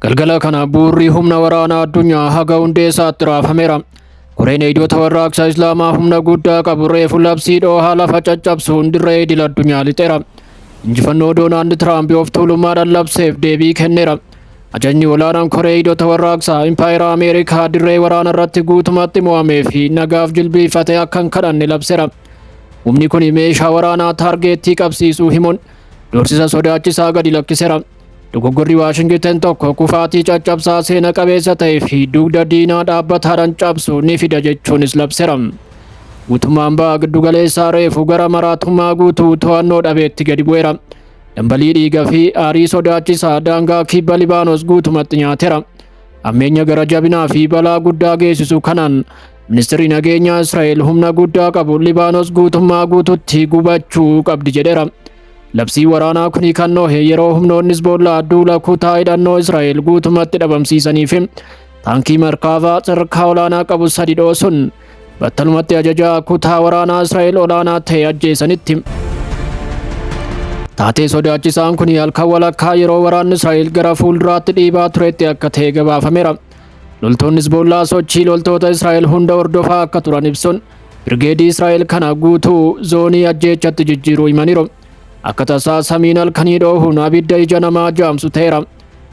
Galgala kana bu'uurri humna waraanaa addunyaa haga hundee isaatti raafameera. Koreen eegdota warraaqsa Islaamaa humna guddaa qabu reefu labsii dhoohaa lafa caccabsuun dirree idil addunyaa lixeera. Injifannoo Doonaald Tiraamp of tuulummaadhaan labseef deebii kenneera. Ajajni olaanaan koree eegdota warraaqsaa Impaayera Ameerikaa dirree waraana irratti guutumatti mo'amee fi nagaaf jilbiifate akka hin kadhanne labseera. Humni kun meeshaa waraanaa taargeettii qabsiisuu himuun doorsisa sodaachisaa gadi lakkisera. Dogoggorri Waashingitan tokko kufaatii caccabsaa seena qabeessa ta'ee fi dugda diinaa dhaabbataadhaan cabsu ni fida jechuunis labsera. Guutummaan ba'a giddugaleessaa reefu gara maraatummaa guutuu to'annoo dhabeetti gadi bu'eera. Dambalii dhiiga fi aarii sodaachisaa daangaa kibba Libaanos guutumatti nyaatera. Ammeenya gara jabinaa fi balaa guddaa geessisu kanaan Ministirri nageenyaa Israa'el humna guddaa qabu Libaanos guutummaa guututti gubachuu qabdi jedheera. Labsii waraanaa kuni kan noohe yeroo humnoonni Hizboollaa duula kutaa hidhannoo Israa'el guutumatti dhabamsiisanii fi taankii markaavaa sadarkaa olaanaa qabu sadi dhoosun battalumatti ajajaa kutaa waraanaa Israa'el olaanaa ta'e ajjeesanitti. Taatee sodaachisaan kun halkan walakkaa yeroo waraanni Israa'el gara fuulduraatti dhiibaa turetti akka ta'e gabaafameera. Loltoonni Hizboollaa sochii loltoota Israa'el hunda hordofaa akka turan ibsuun birgeedii Israa'el kana guutuu zoonii ajjeechatti jijjiiruu himaniiru. Akka tasaa samiin halkanii dhoohuun abidda ija namaa jaamsu ta'eera.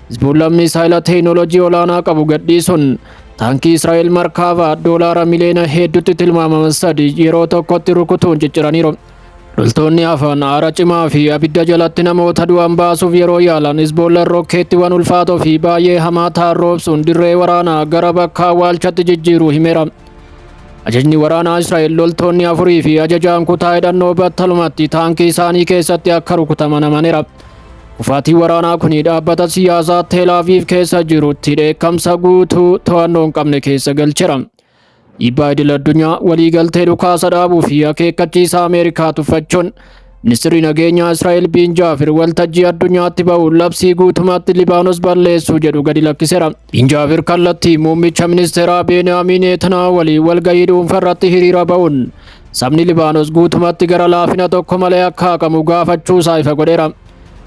Hizboollaan misaayila teeknooloojii olaanaa qabu gadhiisuun taankii Israa'el markaavaa doolaara miliyoona hedduutti tilmaamama sadi yeroo tokkotti rukutuun cicciraniiru. Loltoonni hafan aara cimaa fi abidda jalatti namoota du'an baasuuf yeroo yaalan Hizboollaan rookkeettiiwwan ulfaatoo fi baay'ee hamaa ta'an roobsuun dirree waraanaa gara bakka awwaalchatti jijjiiru himeera. Ajajni waraanaa Israa'el loltoonni afurii fi ajajaan kutaa hidhannoo battalumatti taankii isaanii keessatti akka rukutaman amaneera. Kufaatii waraanaa kun dhaabbata siyaasaa Teelaaviiv keessa jirutti dheekkamsa guutuu to'annoo hin qabne keessa galcheera. Dhiibbaa idil addunyaa waliigaltee dhukaasa dhaabuu fi akeekkachiisa Ameerikaa tuffachuun Ministirri nageenyaa Israa'el Biin Jaafir waltajjii addunyaatti ba'uun labsii guutumatti Libaanos balleessuu jedhu gadi lakkisera. Biin Jaafir kallattii muummicha ministeeraa Beeniyaamin Neetanaa waliin walgahii dhuunfa irratti hiriira ba'uun sabni Libaanos guutumatti gara laafina tokko malee akka haqamu gaafachuu isaa ifa godheera.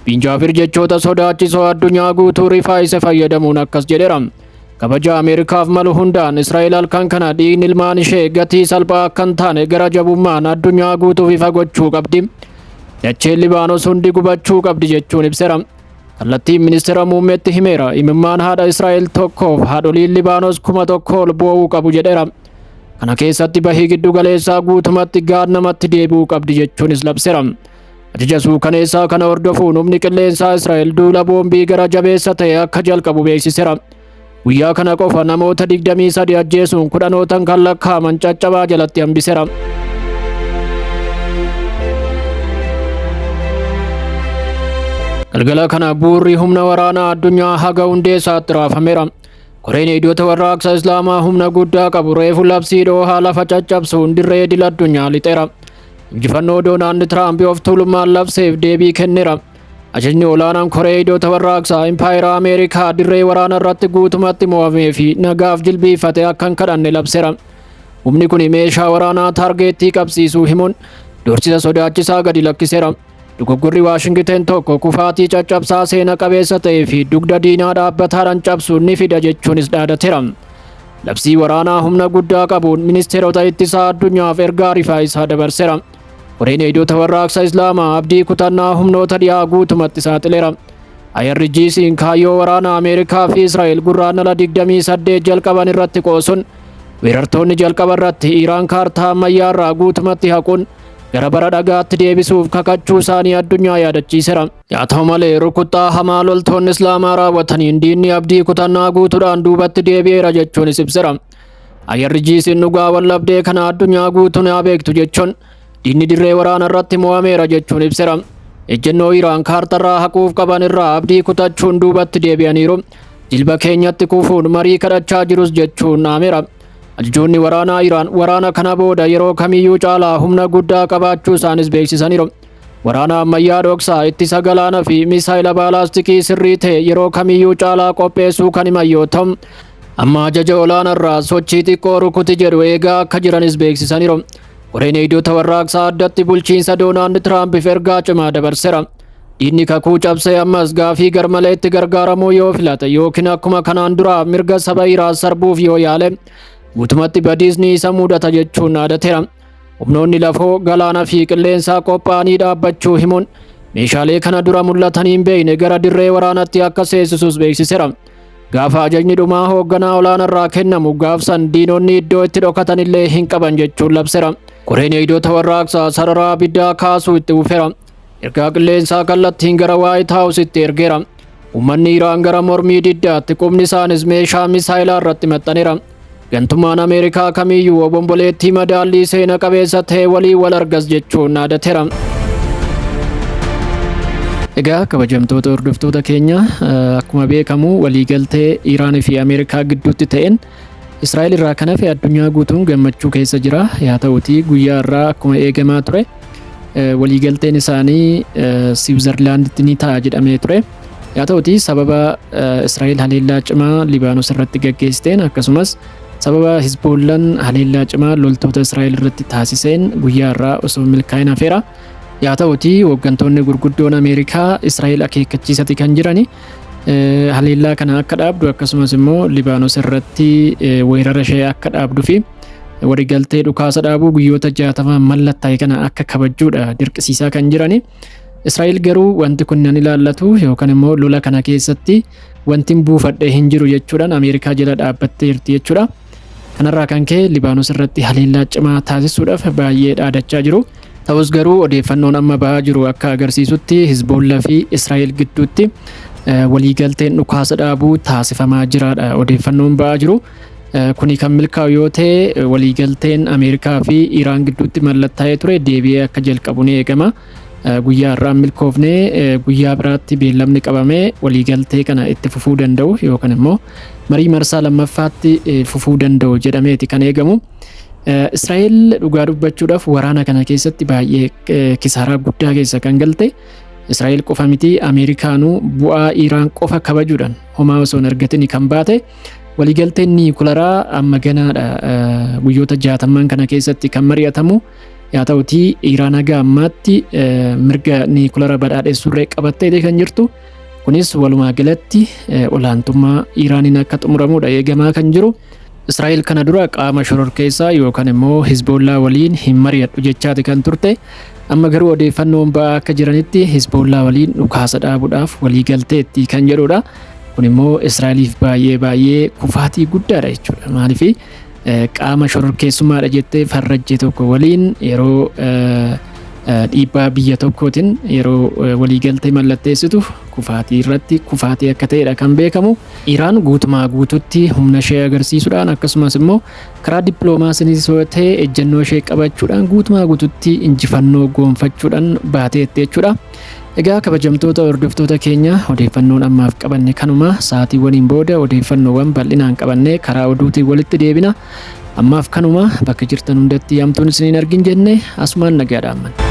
Biin Jaafir jechoota sodaachisoo addunyaa guutuu rifaa'ise fayyadamuun akkas jedheera. Kabaja Ameerikaaf malu hundaan Israa'el halkan kana dhiigni ilmaan ishee gatii salphaa akka hin taane gara jabummaan addunyaa guutuuf ifa gochuu qabdi. Dacheen Libaanos hundi gubachuu qabdi jechuun ibseera. Kallattiin ministeera muummeetti himeera. Imimmaan haadha Israa'el tokkoof haadholiin Libaanos kuma tokko ol boo'uu qabu jedheera. Kana keessatti bahii giddu galeessaa guutumatti gaad namatti deebi'uu qabdi jechuunis labseera. Ajaja suukaneessaa kana hordofuun humni qilleensaa Israa'el duula boombii gara jabeessa ta'e akka jalqabu beeksisera. Guyyaa kana qofa namoota 23 ajjeesuun kudhanootan kan lakkaa'aman caccabaa jalatti hambisera. Galgala kana buurri humna waraanaa addunyaa haga hundee isaatti raafameera. Koreen hiddoota warraaqsa Islaamaa humna guddaa qabu reefu labsii dhoohaa lafa caccabsuun dirree idil addunyaa lixeera. Injifannoo Doonaald Tiraamp of tuulummaan labseef deebii kennera. Ajajni olaanaan koree hiddoota warraaqsaa Impaayera Ameerikaa dirree waraana irratti guutumatti mo'amee fi nagaaf jilbiifate akka hin kadhanne labsera. Humni kun meeshaa waraanaa taargeettii qabsiisuu himuun doorsisa sodaachisaa gadi lakkisera. Dogoggorri Waashingiten tokko kufaatii caccabsaa seena qabeessa ta'ee fi dugda diinaa dhaabbataadhaan cabsuun ni fida jechuunis dhaadatera. Labsii waraanaa humna guddaa qabuun ministeerota ittisaa addunyaaf ergaa rifaa isaa dabarsera. Koreen eegdota warraaqsa Islaamaa abdii kutannaa humnoota dhiyaa guutumatti saaxilera. IRGC'n kaayyoo waraana Ameerikaa fi Israa'el gurraandhala 28 jalqaban irratti qoosuun weerartoonni jalqaba irratti Iraan kaartaa ammayyaa irraa guutumatti haquun gara bara dhagaatti deebisuuf kakachuu isaanii addunyaa yaadachiisera. Yaa ta'u malee rukuttaa hamaa loltoonni Islaamaa raawwataniin diinni abdii kutannaa guutuudhaan duubatti deebi'eera jechuunis ibsera. Ayyarri jiisiin dhugaa wallabdee kana addunyaa guutuun haa beektu jechuun diinni dirree waraana irratti mo'ameera jechuun ibsera. Ejjennoo Iraan kaartarraa haquuf qaban irraa abdii kutachuun duubatti deebi'aniiru. Jilba keenyatti kufuun marii kadhachaa jirus jechuun dhaameera. Ajajoonni waraanaa Iraan waraana kana booda yeroo kamiyyuu caalaa humna guddaa qabaachuu isaanis beeksisaniiru. Waraana ammayyaa dhoksaa ittisa galaana fi misaayila baalaastikii sirrii ta'e yeroo kamiyyuu caalaa qopheessuu kan himan yoo ta'u, amma ajaja olaanarraa sochii xiqqoo rukuti jedhu eegaa akka jiranis beeksisaniiru. Koreen eegdota warraaqsaa addatti bulchiinsa Doonaald Tiraampiif ergaa cimaa dabarsera. Diinni kakuu cabsee ammas gaafii garmaleetti gargaaramuu yoo filate yookiin akkuma kanaan duraa mirga saba iraa sarbuuf yoo yaale guutumatti badiisni isa mudata jechuun dhaadateera. Humnoonni lafoo galaana fi qilleensaa qophaa'anii dhaabbachuu himuun meeshaalee kana dura mul'atanii hin beekne gara dirree waraanatti akka seesisus beeksiseera. Gaafa ajajni dhumaa hoogganaa olaanarraa kennamu gaafsan diinonni iddoo itti dhokatanillee hin qaban jechuun labseera. Koreen eegdota warraaqsaa sararaa abiddaa kaasuu itti fufeera. ergaa qilleensaa kallattiin gara Waayit Haawusitti ergeera. Uummanni Iraan gara mormii diddaatti qubni isaanis meeshaa misaayilaa irratti maxxaneera. Gantummaan Ameerikaa kamiyyuu obomboleettii madaallii seena qabeessa ta'e walii wal argas jechuun dhaadateera. Egaa kabajamtoota hordoftoota keenya akkuma beekamu waliigaltee Iraan fi Ameerikaa gidduutti ta'een Israa'el irraa kan hafe addunyaa guutuun gammachuu keessa jira. Yaa ta'uutii guyyaa irraa akkuma eegamaa ture waliigalteen isaanii Siwiizerlaanditti ni ta'a jedhamee ture. Yaa ta'uutii sababa Israa'el haleellaa cimaa Libaanos irratti gaggeessiteen akkasumas sababa Hizboollaan haleellaa cimaa loltoota Israa'el irratti taasiseen guyyaa irraa osoo milkaa'in hafeera. Yaa ta'uutii hooggantoonni gurguddoon Ameerikaa Israa'el akeekkachiisati kan jirani. haleellaa kana akka dhaabdu akkasumas immoo Libaanos irratti weerara ishee akka dhaabdu fi waliigaltee dhukaasa dhaabuu guyyoota jaatama mallattaa'e kana akka kabajjuudha dirqisiisaa kan jirani. Israa'el garuu wanti kun nan ilaallatu yookaan immoo lola kana keessatti wanti buufadhee hin jiru jechuudhaan Ameerikaa jala dhaabbattee jirti jechuudha. Kanarraa kan ka'e Libaanos irratti haleellaa cimaa taasisuudhaaf baay'ee dhaadachaa jiru. Ta'us garuu odeeffannoon amma ba'aa jiru akka agarsiisutti Hizboollaa fi Israa'el gidduutti waliigalteen dhukaasa dhaabuu taasifamaa jiraadha odeeffannoon ba'aa jiru. Kuni kan milkaa'u yoo ta'e waliigalteen Ameerikaa fi Iraan gidduutti mallattaa'ee ture deebi'ee akka jalqabu ni eegama. Guyyaa har'aa hin milkoofne guyyaa biraatti beellamni qabame waliigaltee kana itti fufuu danda'u yookaan immoo marii marsaa lammaffaatti fufuu danda'u jedhameeti kan eegamu. Israa'el dhugaa dubbachuudhaaf waraana kana keessatti baay'ee kisaaraa guddaa keessa kan galte Israa'el qofa miti Ameerikaanuu bu'aa Iraan qofa kabajuudhaan homaa osoo hin argatin kan baate waliigalteen niikularaa amma ganaadha guyyoota jaatamman kana keessatti kan mari'atamu. Yaa ta'utii Iraan haga ammaatti mirga niikulara badhaadhessuurree qabattee kan jirtu. Kunis walumaa galatti olaantummaa Iraaniin akka xumuramuudha eegamaa kan jiru. Israa'el kana dura qaama shororkeessaa yookaan immoo Hizboollaa waliin hin mari'adhu jechaati kan turte. Amma garuu odeeffannoon ba'aa akka jiranitti Hizboollaa waliin dhukaasa dhaabuudhaaf walii galteetti kan jedhudha. Kun immoo Israa'eliif baay'ee baay'ee kufaatii guddaadha jechuudha. Maaliif qaama shororkeessummaadha jettee farrajje tokko waliin yeroo dhiibbaa biyya tokkootiin yeroo waliigaltee mallatteessitu kufaatii irratti kufaatii akka ta'edha kan beekamu. Iraan guutumaa guututti humna ishee agarsiisuudhaan akkasumas immoo karaa dippiloomaasiinis yoo ta'e ejjennoo ishee qabachuudhaan guutumaa guututti injifannoo goonfachuudhaan baateetti jechuudha. Egaa kabajamtoota hordoftoota keenya odeeffannoon ammaaf qabanne kanuma sa'aatiiwwaniin booda odeeffannoowwan bal'inaan qabannee karaa oduutiin walitti deebina. Ammaaf kanuma bakka jirtan hundatti hamtuun isiniin argin jenne asumaan nagaa dhaammanna.